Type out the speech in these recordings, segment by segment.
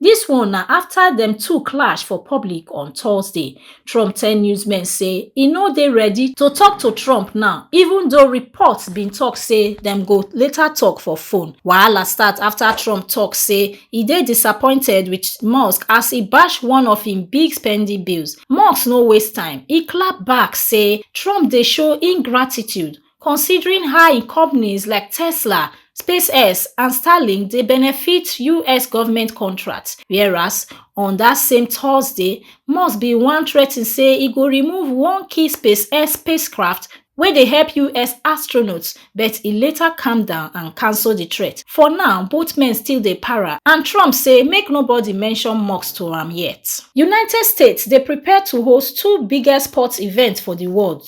dis one na afta dem two clash for public on thursday trump tell newsmen say e no dey ready to tok to trump now even though reports bin tok say dem go later tok for phone wahala start afta trump tok say e dey disappointed wit musk as e bash one of im big spending bills musk no waste time e clap back say trump dey show ingratitude considering how im companies like tesla spacex and starlink dey benefit us government contracts whereas on dat same thursday musk bin wan threa ten say e go remove one key spacex spacecraft wey dey help us astronauts but e later calm down and cancel di threat for now both men still dey para and trump say make nobody mention musk to am yet united states dey prepare to host two biggest sports events for di world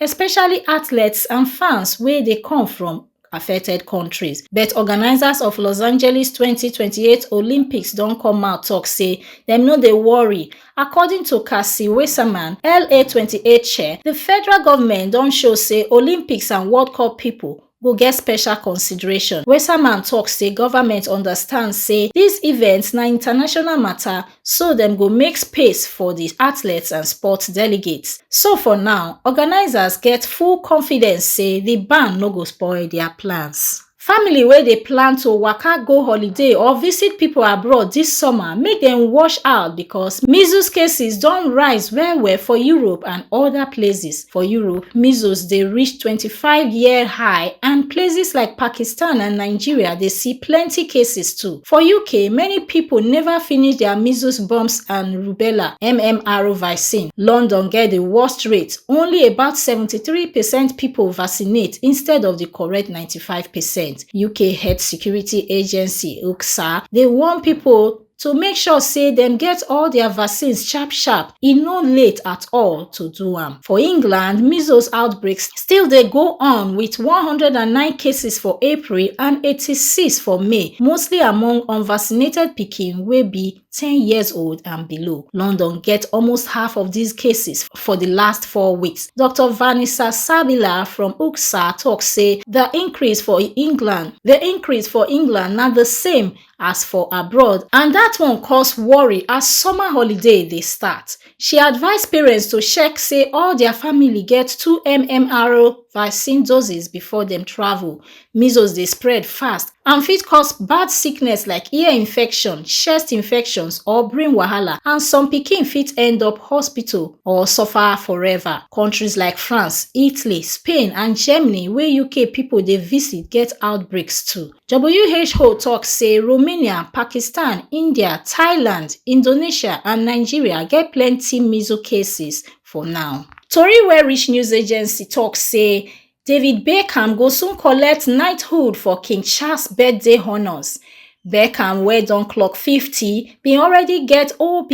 especially athletes and fans wey dey come from affected kontris but organisers of los angeles twenty twenty eight olympics don come out tok say dem no dey worry according to cassie weisserman la twenty eight chair di federal goment don show say olympics and world cup pipo go get special consideration weserman tok say goment understand say dis event na international mata so dem go make space for di athletes and sports delegates so for now organisers get full confidence say di ban no go spoil dia plans family wey dey plan to waka go holiday or visit pipo abroad dis summer make dem watch out becos measles cases don rise well well for europe and oda places for europe measles dey reach 25year high and places like pakistan and nigeria dey see plenti cases too for uk many pipo neva finish dia measles mumps and rubella mmr vaccine london get di worst rate only about 73 percent pipo vaccinate instead of di correct 95 percent uk health security agency ukhsa dey warn pipo to make sure say dem get all dia vaccines sharp sharp e no late at all to do am for england measles outbreak still dey go on wit one hundred and nine cases for april and eighty-six for may mostly among unvaccinated pikin wey be ten years old and below london get almost half of dis cases for di last four weeks dr vanessa sabila from ucsa tok say di increase for england di increase for england na di same as for abroad and dat one cause worry as summer holiday dey start she advise parents to check say all dia family get two mmr vaccine doses before dem travel measles dey spread fast and fit cause bad sickness like ear infection chest infections or brain wahala and some pikin fit end up hospital or suffer forever kontris like france italy spain and germany wey uk pipo dey visit get outbreaks too who tok say romania pakistan india thailand indonesia and nigeria get plenti measles cases for now tori wey reach news agency tok say david beckham go soon collect knighthood for king charles birthday honours beckham wey don clock 50 bin already get obe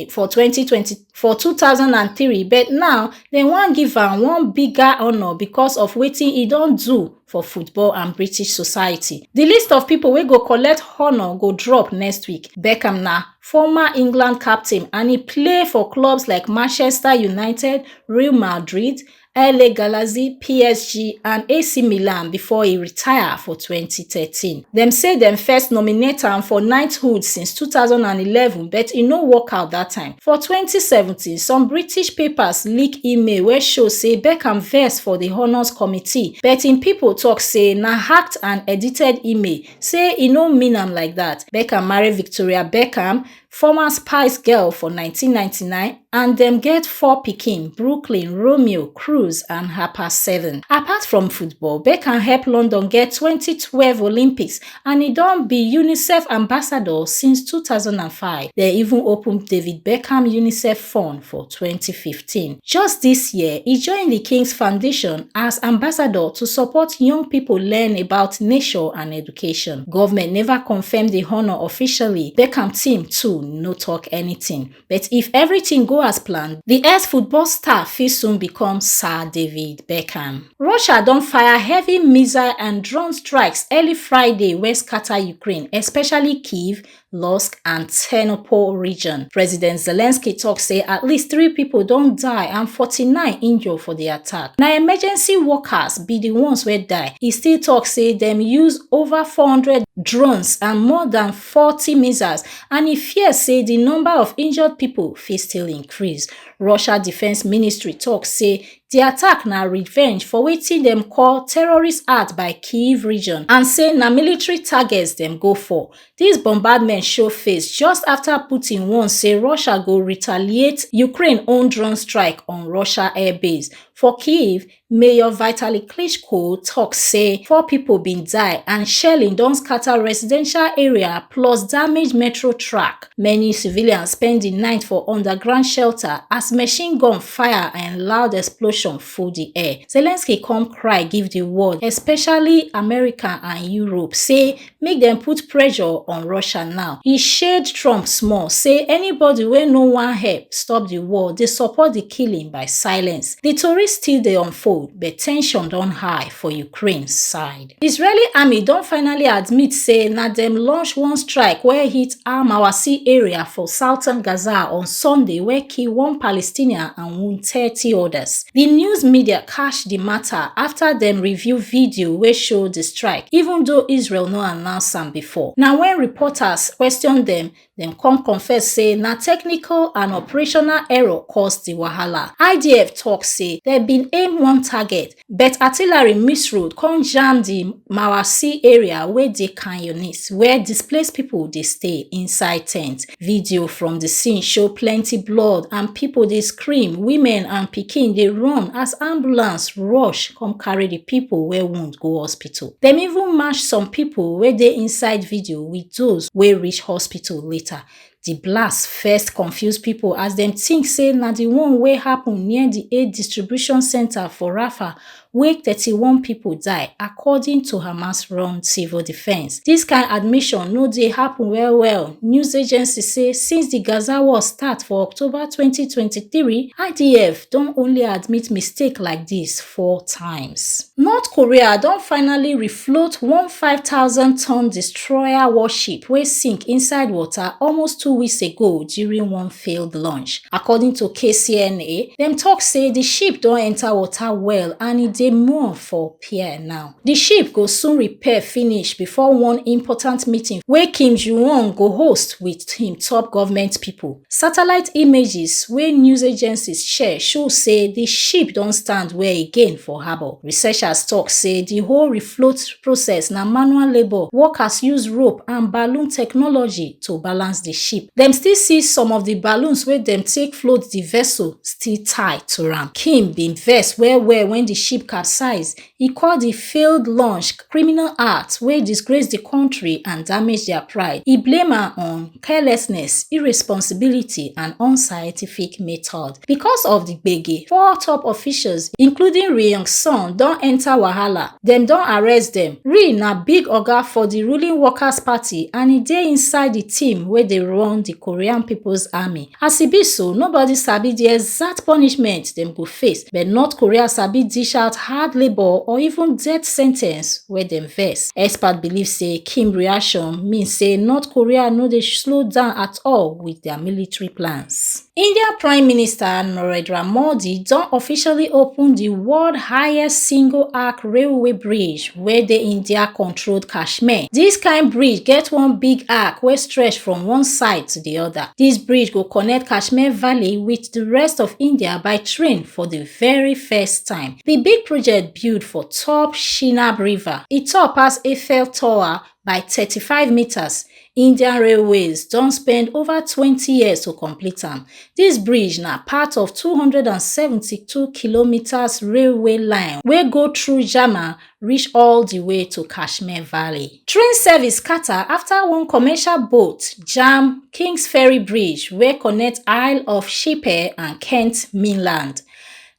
for 2020 for 2003 but now dem wan give am one bigger honour becos of wetin e don do for football and british society di list of pipo wey go collect honour go drop next week beckham na former england captain and e play for clubs like manchester united real madrid la galaxy psg and ac milan before e retire for 2013 dem say dem first nominate am for knighthood since 2011 but e no work out dat time for 2017 some british papers leak email wey show say beckham vex for di honours committee but im pipo tok say na hacked and edited email say e no mean am like dat beckham marry victoria beckham former spice girl for 1999 and dem get four pikin brooklyn romeo cruz and harper seven apart from football beckham help london get 2012 olympics and e don be unicef ambassador since two thousand and five. Dem even open David Beckham UNICEF Fund for twenty fifteen. Just dis year, e join di King's Foundation as ambassador to support young pipo learn about nature and education. Govment neva confam di honour officially, Beckham team too no tok anytin. But if everything go as planned, the ex-football star fit soon become Sir David Beckham. Russia don fire heavy missile and drone strikes early Friday wey scatter Ukraine, especially Kyiv, Lusk and Ternopil region. President Zelensky talk say at least three people don die and 49 injure for the attack. Na emergency workers be the ones wey die. E still talk say dem use over 400 drones and more than 40 missiles and e fear say di number of injured pipo fit still increase russia defence ministry tok say di attack na revenge for wetin dem call terrorist act by kyiv region and say na military targets dem go for dis bombardment show face just afta putin warn say russia go retaliate ukraine own drone strike on russia airbase for kyiv Mayor Vitaly Klitschko tok say four pipo bin die and shelling don scata residential area plus damage metro track. Many civilians spend di night for underground shelter as machine gun fire and loud explosion full di air. Zelensky come cry give di world, especially America and Europe, say make dem put pressure on russia now e shade trump small say anybody wey no wan help stop di war dey support di killing by silence di tori still dey unfold but ten sion don high for ukraine side israeli army don finally admit say na dem launch one strike wey hit al mawasi area for southern gaza on sunday wey kill one palestinian and wound thirty odas di news media catch di mata afta dem reveal video wey show di strike even though israel no announce am bifor na wen reporters question dem dem come confess say na technical and operational error cause di wahala idf tok say dem bin aim one target but artillery miss road come jam di mawasi area wey dey khan younis wia displaced pipo dey stay inside tents Video from di scene show plenty blood and pipo dey scream, women and pikin dey run as ambulance rush come carry di pipo wey wound go hospital. Dem even match some pipo wey dey inside video wit those wey reach hospital later. Di blast first confuse pipo as dem tink say na di one wey happun near di aid distribution centre for Rafah wey thirty one pipo die according to hamas run civil defence dis kain admission no dey happun well well news agency say since di gaza war start for october twenty twenty three idf don only admit mistake like dis four times north korea don finally float one 5,000-ton destroyer warship wey sink inside water almost two weeks ago during one failed launch. According to KCNA, dem talk say the ship don enter water well and e dey moor for pier now. The ship go soon repair finish before one important meeting wey Kim Ju-won go host with him top government people. Satellite images wey news agencies share show say di ship don stand well again for harbour. Researchers tok say di whole refloat process na manual labour, workers use rope and balloon technology to balance di ship. Dem still see some of di balloons wey dem take float di vessel still tie to am. Kim bin vex well-well wen di ship capsize, e call di failed launch criminal act wey disgrace di kontri and damage dia pride e blame am on carelessness irresponsibility and unscientific method becos of di gbege four top officials including ri yong song don enta wahala dem don arrest dem ri na big oga for di ruling workers party and e dey inside di team wey dey run di korean peoples army As e be so, nobody sabi di exact punishment dem go face, but North Korea sabi dish out hard labour or even death sentence wey dem vex. Experts believe say Kim reaction mean say North Korea no dey slow down at all with their military plans. India Prime Minister Narendra Modi don officially open di world highest single arc railway bridge wey dey India controlled Kashmir. Dis kind bridge get one big arc wey stretch from one side to di other. Dis bridge go connect Kashmir Valley wit di rest of India by train for di very first time. Di big project build for top Chenab River. E tall pass Eiffel Tower by 35 metres. Indian Railways don spend over twenty years to complete am. Dis bridge na part of two hundred and seventy-two kilometres railway line wey go through Jammu reach all di way to Kashmir Valley. Train service scatter afta one commercial boat jam Kings Ferry Bridge wey connect Isle of Shipper and Kent mainland.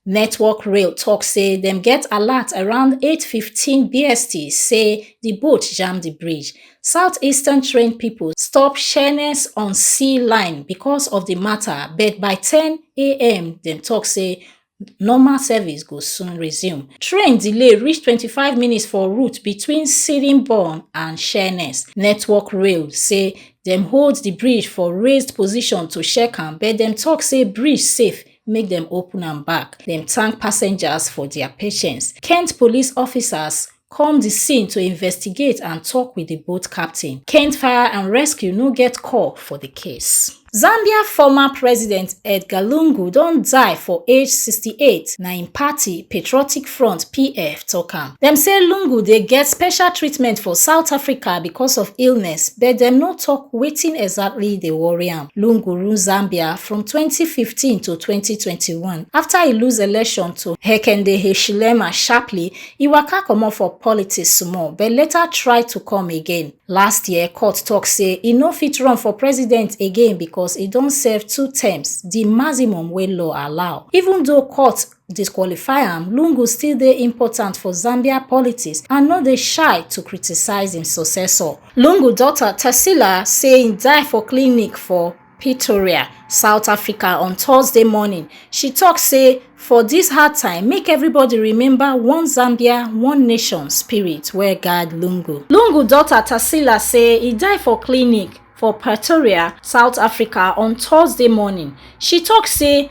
Network Rail tok say dem get alert around 8:15 BST say di boat jam di bridge. Southeastern train pipo stop Sheerness on Sea Line becos of di mata but by 10am dem tok say normal service go soon resume. Train delay reach 25 minutes for route between Sittingbourne and Sheerness. Network Rail say dem hold di bridge for raised position to check am but dem tok say bridge safe make dem open am back. Dem thank passengers for dia patience. Kent police officers come di scene to investigate and tok wit di boat captain kent fire and rescue no get call for di case zambia former president edgar lungu don die for age 68 na im party patriotic front pf tok am dem say lungu dey get special treatment for south africa because of illness but dem no tok wetin exactly dey worry am lungu rule zambia from 2015 to 2021 afta e lose election to hekende hichilema sharply e waka comot for politics small but later try to come again last year court tok say e no fit run for president again becos e don serve two terms di maximum wey law allow even though court disqualify am lungu still dey important for zambia politics and no dey shy to criticise im successor lungu daughter tessila say im die for clinic for pretoria south africa on thursday morning she tok say for dis hard time make everybody remember one zambia one nation spirit wey guard lungu lungu daughter tarsila say e die for clinic for pretoria south africa on thursday morning she tok say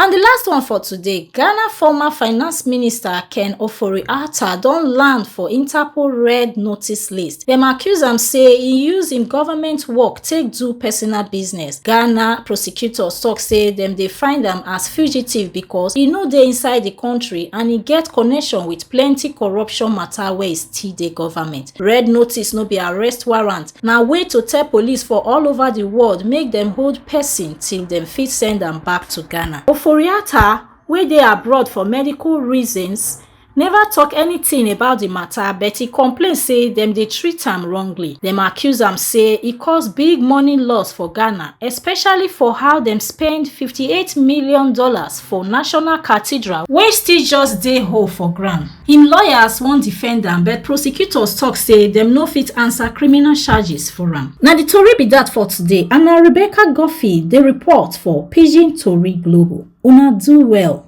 And the last one for today, Ghana former finance minister Ken Ofori-Atta don land for Interpol red notice list. Dem accuse am say he use im government work take do personal business. Ghana prosecutors talk say dem dey find am as fugitive because he no dey inside the country and he get connection with plenty corruption matter wey still dey government. Red notice no be arrest warrant. na way to tell police for all over di world make dem hold pesin till dem fit send am back to ghana oforiatta wey dey abroad for medical reasons neva tok anytin about di mata but e complain say dem dey treat am wrongly dem accuse am say e cause big money loss for ghana especially for how dem spend fifty eight million dollars for national cathedral wey still just dey hole for ground im lawyers wan defend am but prosecutors tok say dem no fit answer criminal charges for am na di tori be dat for today and na rebecca guffey dey report for pidgin tori global una do well